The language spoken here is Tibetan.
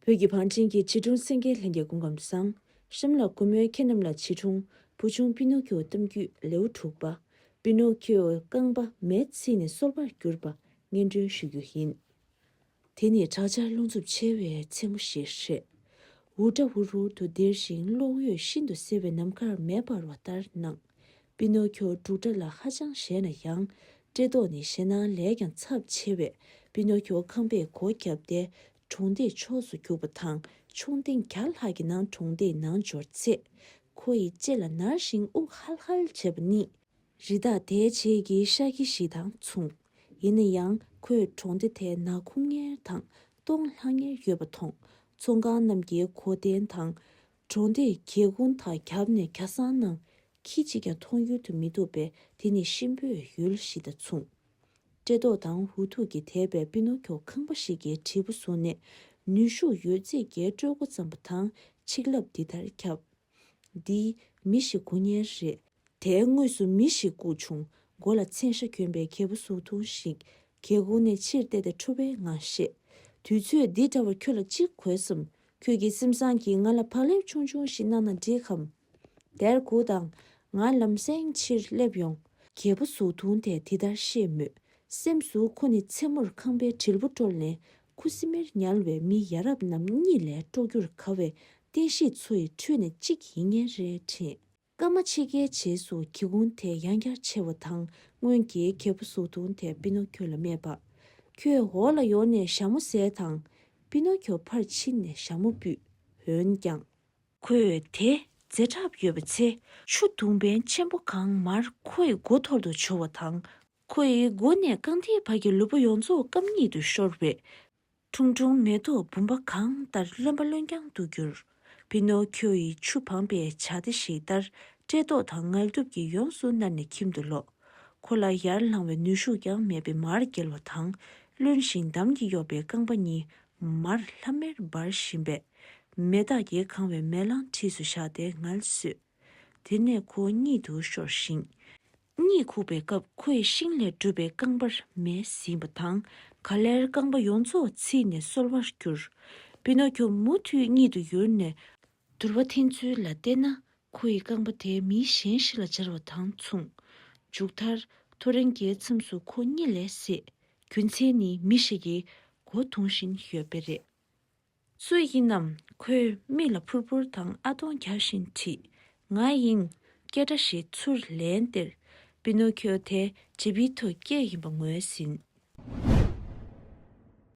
བོད་ཀྱི་བང་ཆེན་གྱི་བྱིས་སྒྲུང་སེང་གེ་ལྷན་རྒྱས་སྐུ་འགམ་བཟང། ཧྲིམ་ལ་གུ་མོའི་ཁྱེད་རྣམས་ལ་བྱིས་སྒྲུང་བུ་ཆུང་པི་ནུ་ཁྱོའི་གཏམ་རྒྱུད་ལེའུ་དྲུག་པ། པི་ནུ་ཁྱོའི་རྐང་པ་མེས་ཚིག་ནས་སོལ་བར་གྱུར་པ་སྙན་སྒྲོན་ཞུ་རྒྱུ་ཡིན། དེ་ནི་དྲག་ཆར་རླུང་འཚུབ་ཆེ་བའི་མཚན་མོ་ཞིག་རེད། འུར་སྒྲ་འུར་འུར་དུ་ལྡིར་ཞིང་གློག་འོད་ཤིན་ཏུ་གསལ་བའི་ནམ་མཁར་མེ་འབར་བ་ལྟར་སྣང། པི་ནོ་ཁྱོ་འབྲུག་སྒྲ་ལ་ཧ་ཅང་གཞས་ན་ཡང། བཀྲེས་ལྟོགས་ནི་ཞེད་སྣང་ལས་ཀྱང་ཚབས་ཆེ་བས་པི་ནོ་ཁྱོ་ཁང་པས་སྒོ་བརྒྱབ་སྟེ་གྲོང་སྡེའི་ཕྱོགས་སུ་རྒྱུགས་པ་དང་ཆུང་ཐེངས་བརྒྱ་ལྷག་གི་ནང་གྲོང་སྡེའི་ནང་འབྱོར་ཚེ། ཁོ་ཡི་ལྕེ་ལ་ནར་ཞིང་དབུགས་ཧལ་ཧལ་བྱེད་པ་ནི། རི་དྭགས་དེའི་ཕྱེད་ཀྱི་ཤ་ཁྱི་ཞིག་དང་མཚུངས། ཡིན་ན་ཡང་ཁོས་གྲོང་སྡེ་དེ་ནག་ཁུང་ངེར་དང་སྟོང་ལྷང་ངེར་ཡོད་པ་མཐོང། ཚོང་ཁང་རྣམས་ཀྱི་གོ་དན་དང། གྲོང་དེའི་རྒྱལ་ཁོངས་དག་རྒྱབ་ནས་གྱ་སང་ནང་ཁྱི་གཅིག་ཀྱང་མཐོང་ཡུལ་དུ་མི་འདུག་པས་དེ་ནི་གཤིན་པོའི་ཡུལ་ཞིག་དང་མཚུངས། བཀྲེས་ལྟོགས་དང་འུ་ཐུག་གིས་དེད་པའི་པི་ནོ་ཁྱོ་ཁང་པ་ཞིག་གི་དྲིལ་བུ་བཟུང་ནས་ནུས་ཤུགས་ཡོད་ཚད་རྒྱའི་སྤྲོད་འགོ་བརྩམས་པ་དང་ཆིག་ལབ་འདི་ལྟར་ཁྱབ། འདི། མི་ཞིག་སྒུག་ཉེན་རེད། དེའི་ངོས་སུ་མི་ཞིག་སྒུག་བྱུང། མགོ་ལ་མཚན་ཤ་གྱོན་པའི་གད་བུ་ཟུག་ཐུང་ཞིག་གིས་ཁུར་ནས་ཕྱིར་བལྟས་ཏེ་ཁྲོ་བའི་ངང་བཤད། དུས་ཚོད་འདི་འདྲ་བར་ཁྱོད་ལ་ཅི་དགོས་སམ། ཁྱོད་ཀྱི་སེམས་བཟང་གིས་ང་ལ་བག་ལེབ་ཆུང་ཆུང་ཞིག་གནང་ན་འགྲིག་གམ། དེར་གུ་དང། ང་ལམ་སེང་ཕྱིར་སླེབས་ཡོང། རྒྱལ་པོ་གཟུགས་ཐུང་དེས་དེ་ལྟར་བཤད་མོད། སེམས་སུ་ཁོ་ནི་མཚན་མོར་ཁང་པའི་དྲིལ་བུ་དཀྲོལ་ནས་ཁུ་སིམ་མེར་ཉལ་བའི་མི་ཡ་རབས་རྣམས་གཉིད་ལས་དཀྲོག་རྒྱུར་དགའ་བའི་རྟེན་གཞི་ཚོའི་ཁྲོད་ནས་གཅིག་ཡིན་ངེས་རེད་དྲན། སྐར་མ་ཕྱེད་ཀའི་རྗེས་སུ་གྱི་གུང་དེ་ཡང་བསྐྱར་ཕྱེ་བ་དང་སྔོན་གྱི་གྱད་བུ་གཟུགས་མཐོང་དེ་པི་ནོ་ཁྱོ་ལ་སྨྲས་པ། ཁྱོད་འོག་ལ་ཡོང་ནས་ཞྭ་མོ་ཟས་དང། པི་ནོ་ཁྱོ་ཕར་ཕྱིན་ནས་ཞྭ་མོ་སྤུད། འོན་ཀྱང། ཁོས་དེ་རྫས་ཁྲབ་ཡོད་པའི་ཚེ་ཆུ་དུང་བན་ཆེན་པོ་གང་མར་ཁོ་ཡི་མགོ་ཐོར་དུ་བྱོ་བ་དང། ཁོ་ཡི་མགོ་ནས་རྐང་མཐིལ་བར་གྱི་ལུས་པོ་ཡོངས་རྫོགས་སྐམ་ཉིད་དུ་ཤོར་བས། ཁྲུང་ཁྲུང་མེ་ཏོག་བུམ་པ་གང་ལྟར་རློན་པ་རློན་རྐྱང་དུ་གྱུར། པི་ནོ་ཁྱོ་ཡི་ཆུ་བངས་པའི་བྱ་རྟ་ཞིག་ལྟར་བཀྲེས་ལྟོགས་དང་ངལ་དུབ་ཀྱིས་ཡོངས་སུ་མནར་ནས་ཁྱིམ་དུ་ལོག། ཁོ་ལ་ཡར་ལངས་བའི་ནུས་ཤུགས་ཀྱང་མེད་པས་མར་འགྱེལ་བ་དང། རློན་ཞིང་འདམ་གྱིས་གཡོགས་པའི་རྐང་པ་གཉིས་མར་ལྷམ་མེར་འབར་བཞིན་པས། མེ་སྟག་གིས་གང་བའི་མེ་གླང་འཁྲིས་སུ་བཞག་སྟེ་ངལ་བསོས། དེ་ནས་ཁོ་གཉིད་དུ་ཤོར་ཞིང། གཉིད་ཁུག་པའི་སྐབས་ཁོས་ཤིང་ལས་གྲུབ་པའི་རྐང་པར་མེ་བསྲིངས་པ་དང་ག་ལེར་རྐང་པ་ཡོངས་རྫོགས་ཚིག་ནས་སོལ་བར་གྱུར། པི་ནོ་ཁྱོ་མུ་མཐུད་གཉིད་དུ་ཡུར་ནས། དུར་བ་འཐེན་ཚུལ་ལ་བལྟས་ན་ཁོ་ཡི་རྐང་པ་དེ་མི་གཞན་ཞིག་ལ་སྦྱར་བ་དང་མཚུངས། མཇུག་མཐར་ཐོ་རེངས་ཀྱི་མཚམས་སུ་ཁོ་གཉིད་ལས་སད། རྒྱུ་མཚན་ནི་མི་ཞིག་གིས་སྒོ་རྡུང་བཞིན་ཡོད་པས་རེད། སུ་ཡིན་ནམ་ཁོའི་མིག་ལ་ཕུར་ཕུར་དང་ཨ་ཐོང་རྒྱག་བཞིན་དྲིས། ང་ཡིན། སྐད་སྒྲ་ཞིག་ཚུར་ལན་སྟེར། པི་ནོ་ཁྱོ་དེ་ཇི་པི་ཐོ་སྐྱེས་ཡིན་པ་ངོས་ཟིན།